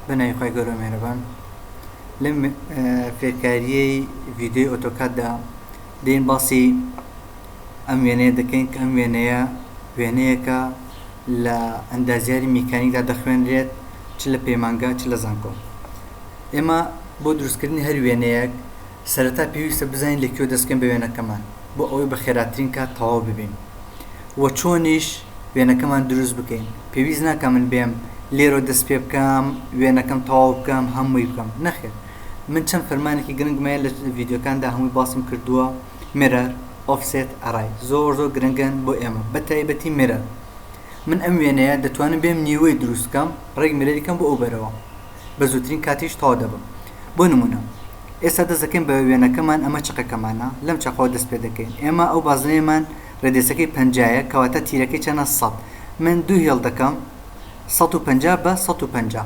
بەناوی خی گەورە مێرەبان لەم فێرکاریی ڤیددیوی ئۆتۆکاتدا دێن باسی ئەم وێنەیە دەکەین کە ئەم وێنەیە وێنەیەکە لە ئەندازیاری میکانیکدا دەخوێنرێت چ لە پەیمانگا چ لە زانکۆ ئێمە بۆ دروستکردنی هەر وێنەیەک سەرەتا پێویستە بزانین لە کوێ دەستکەین بە وێنەکەمان بۆ ئەوەی بە خێراترین کات تەواو ببین و چۆنیش وێنەکەمان دروست بکەین پێویست ناکە من بێم لێرۆ دەست پێ بکەم وێنەکەم تەواو بکەم هەمووی بکەم نەخێر من چەند فەرمانێکی گرنگمەیە لە ڤیددیوکاندا هەمووی باسم کردووە مرە ئۆفسێت ئەڕای زۆر زۆر گرنگن بۆ ئێمە بە تایبەتی مرە من ئەم وێنەیە دەتوانم بێم نیوەی دروستکەم ڕێک مرەریکەم بۆ ئەو بەرەوە بە زووترین کاتیش تەواو دەبم بۆ نموونە ئێستا دەست دەکەین بە وێنەکەمان ئەمە چەقەکەمانە لەم چەقەوە دەست پێ دەکەین ئێمە ئەو بازنەیەمان ڕێدێسەکەی پەنجا یە کەواتە تیرەکەی چەنە سەد من دوو هێڵ دەکەم سەد و پەنجا بە سەد و پەنجا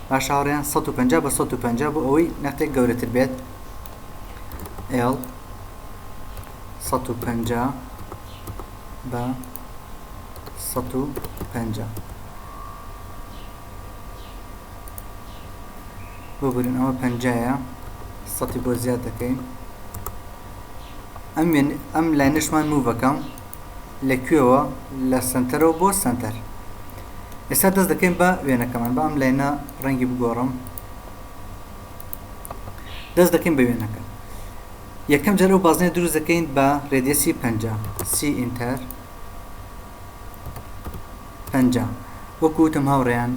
باش هاوڕێیان سەد و پەنجا بە سەد و پەنجا بۆ ئەوەی نەختێک گەورەتر بێت ئێڵ سەد و پەنجا بە سەد و پەنجا ببورن ئەوە پەنجایە سەتی بۆ زیاد دەکەین ئەم ئەم لاینەشمان مووەکەم لە کوێەوە لە سنتەرەوە بۆ سنتەر ئێستا دەست دەکەین بە وێنەکەمان بە ئەم لاینە ڕەنگی بگۆڕم دەست دەکەین بە وێنەکە یەکەم جەرە و بازنێ دروست دەکەین بە ڕێدیسی پ سی ئینتەر پەنجا، وەکو وتم هاوڕێیان،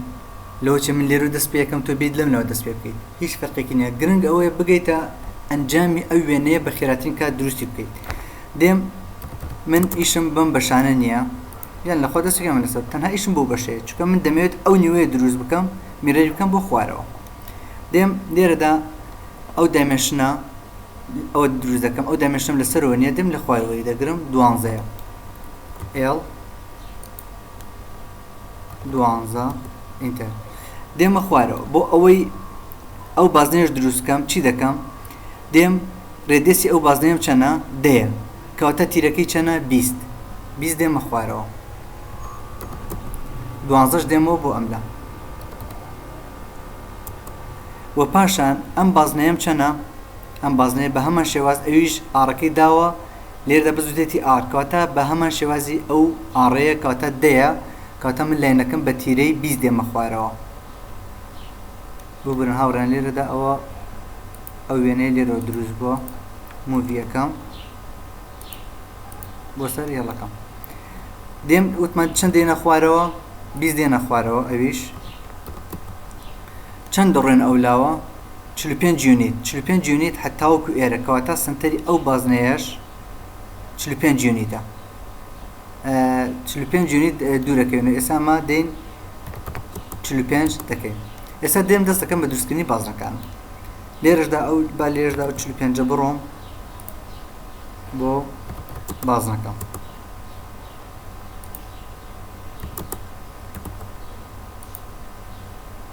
لەوەچێ من لێرو دەست پێەکەم تۆ بێیت لەملاوە دەست پێ بکەیت هیچ فەرقێکی نیە گرنگ ئەوەیە بگەیتە ئەنجامی ئەو وێنەیە بە خێراترین کات دروستی بکەیت دێم من ئیشم بەم بەشانە نییە یان لەخوا دەستەکەم لەسەر تەنها ئیشم بۆ بەشەیە چکە من دەمەوێت ئەو نیوەیە دروست بکەم میرەری بکەم بۆ خوارەوە دێم لێرەدا ئەو دایمەشنە ئەوە دروست دەکەم ئەو دایمەشتم لەسەرەوە نیە دێم لە خوارەوەی دەگرم دوانزەیە ئێڵ دوانزە ئینتەر دێمە خوارەوە بۆ ئەوەی ئەو بازنێش دروست بکەم چی دەکەم دێم ڕێدێسی ئەو بازنێم چەنە دەیە کەواتە تیرەکەی چەنە بیست بیست دێمە خوارەوە دوانزەش دێمەوە بۆ ئەملا و پاشان ئەم بازنەیەم چەنە ئەم بازنەیە بە هەمان شێواز ئەویش ئاڕەکەی داوە لێرەدا بە زووتێتی ئاڕ کەواتە بە هەمان شێوازی ئەو ئاڕەیە کەواتە دەیە کەواتە من لاینەکەم بە تیرەی بیست دێمە خوارەوە ببورن هاوڕێن لێرەدا ئەوە ئەو وێنەیە لێرەوە دروست بووە موڤیەکەم بۆ سەر هێڵەکەم دێم وتمان چەند دێنە خوارەوە بیست دێنە خوارەوە ئەویش چەند دەڕێن ئەو لاوە چل و پێنج یونیت، چل و پێنج یونیت حە تاوەکو ئێرە، کەواتە سەنتەری ئەو بازنەیەش چل و پێنج یونیتە. ئە، چل و پێنج یونیت دوورەکەوێن و ئێستا ئەمە دێین چل و پێنج دەکەین. ئێستا دێم دەست دەکەم بە دروستکردنی بازنەکانم. لێرەشدا ئەو با لێرەشدا ئەو چل و پێنجە بڕۆم بۆ بازنەکەم.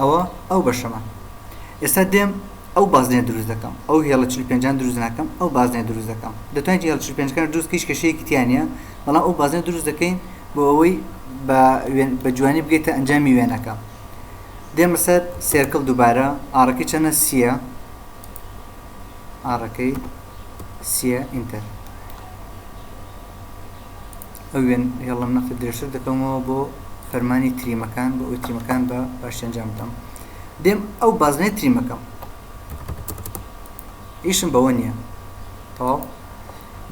ئەوە ئەو بەشەمە ئێستا دێم ئەو بازنێ دروست دەکەم ئەو هێڵە چل پێنجان دروست ناکەم ئەو بازنێ دروست دەکەم دەتوانین هێڵ چل پێنجکان دروست کەیش کەشەیەکی تیانە بەڵام ئەو بازنێ دروست دەکەین بۆ ئەوەی بە جوانی بگەیتە ئەنجامی وێنەکە دێمە سەر سێرکل دووبارە ئارەکەی چەنە سیە ئارەکەی سیە ئینتەر ئەو وێن هێڵم نەخت درێژتر دەکەمەوە بۆ فەرمانی تریمەکان بۆ ئەوی تریمەکان بە باشی ئەنجام بدەم دێم ئەو بازنەی تریمەکەم ئیشم بەوە نییە تەواو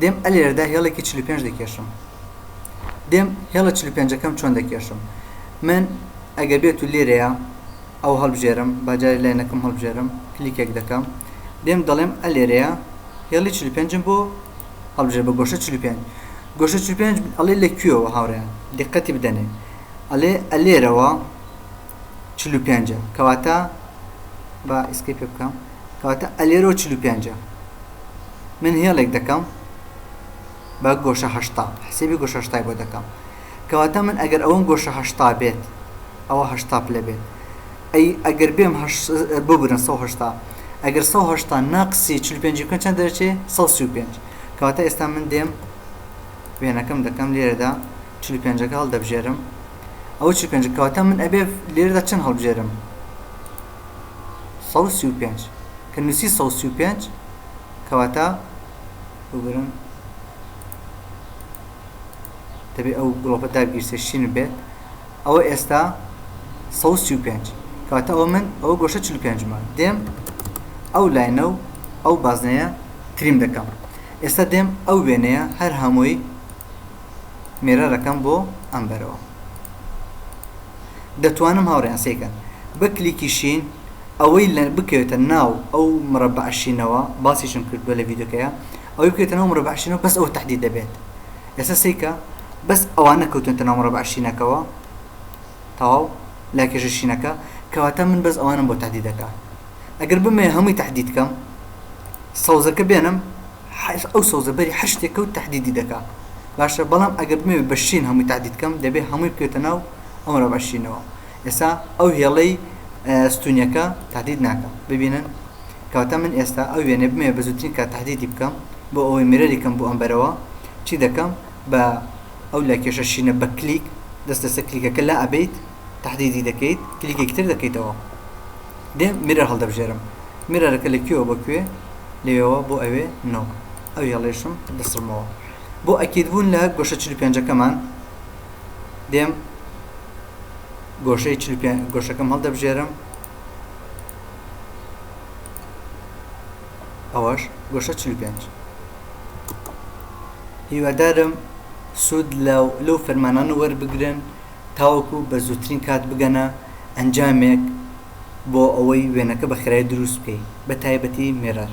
دێم ئەلێرەدا هێڵێکی 45 دەکێشم دێم هێڵە 45ەکەم چۆن دەکێشم من ئەگە بێت و لێرەیە ئەو هەڵبژێرم باجاری لاینەکەم هەڵبژێرم کلیکێک دەکەم دێم دەڵێم ئەلێرەیە هێڵی 45 بۆ هەڵبژێر بە گۆشە 45 گۆشە چل و پێنج ئەڵێ لە کوێوە هاوڕێیان دیقەتی بدەنێ ئەڵێ ئەلێرەوە چل و پێنجە کەواتە با ئیسکەی پێ بکەم کەواتە ئەلێرەوە چل و پێنجە من هێڵێک دەکەم بە گۆشە هەشتا حسێبی گۆشە هەشتای بۆ دەکەم کەواتە من ئەگەر ئەوەم گۆشە هەشتا بێت ئەوە هەشتا پلە بێت ئەی ئەگەر بێم ببرن سە هەشتا ئەگەر سە هەشتا ناقسی چل پێنج بکەن چەند دەرچێ سە سی و پێنج کەواتە ئێستا من دێم وێنەکەم دەکەم لێرەدا چل و پێنجەکە هەڵدەبژێرم ئەو چل پێنج کەواتە من ئەبێ لێرەدا چەند هەڵبژێرم سەد سی و پێنج کە نووسی سەد سی و پێنج کەواتە بگرن دەبێت ئەو گڵۆپە داگیرسێ شین بێت ئەوە ئێستا سەد و سی و پێنج کەواتە ئەوە من ئەوە گۆشە چل و پێنج مە دێم ئەو لاینە و ئەو بازنەیە تریم دەکەم ئێستا دێم ئەو وێنەیە هەر هەمووی مێرەرەکەم بۆ ئەم بەرەوە دەتوانم هاوڕیان سێکەن بە کلیکی شین ئەوەی لە بکەوێتە ناو ئەو مڕە بەعشینەوە باسیشم کردووە لە ویددیوکەیە ئەوەی بکەێتە ناو مڕە بەعشینەوە بەس ئەوە تهدید دەبێت ئێستا سەیکە بەس ئەوانە کەوتوێتە ناو مڕەبعە شینەکەوە تەواو لای کێشە شینەکە کەواتە من بەس ئەوانم بۆ تهدید دەکا ئەگەر بمەوێ هەمووی تهدید کەم سەوزەکە بێنم حەش ئەو سەوزە بەری هەر شتێک کەوت تهدیدی دەکا باشە بەڵام ئەگەر بمەوێ بە شین هەمووی تهدید کەم دەبێ هەمووی بکەوێتە ناو ئەو مرەبعە شینەوە ئێستا ئەو هێڵەی ستونیەکە تهدید ناکا ببینن کەواتە من ئێستا ئەو وێنێ بمێ بە زووترین کە تهدیدی بکەم بۆ ئەوەی میرەری کەم بۆ ئەم بەرەوە چی دەکەم بە ئەو لە کێشە شینە بە کلیک دەست لەسەر کلیکەکە لا ئەبیت تهدیدی دەکەیت کلیکێکی تر دەکەیتەوە دێ میرەر هەڵدەبژێرم میرەرەکە لە کوێوە بۆ کوێ لەوێەوە بۆ ئەوێ نۆ ئەو هێڵێشم دەسڕمەوە بۆ ئەکیدبوون لە گۆشە 45ەکەمان دێم گۆشەی چل گۆشەکەم هەڵدەبژێرم ئەوەش گۆشە چل پێنج هیوادارم سوود لەو فەرمانانە وەربگرن تاوەکو بە زووترین کات بگەنە ئەنجامێک بۆ ئەوەی وێنەکە بە خێرای دروست بکەیت بە تایبەتی مێرەر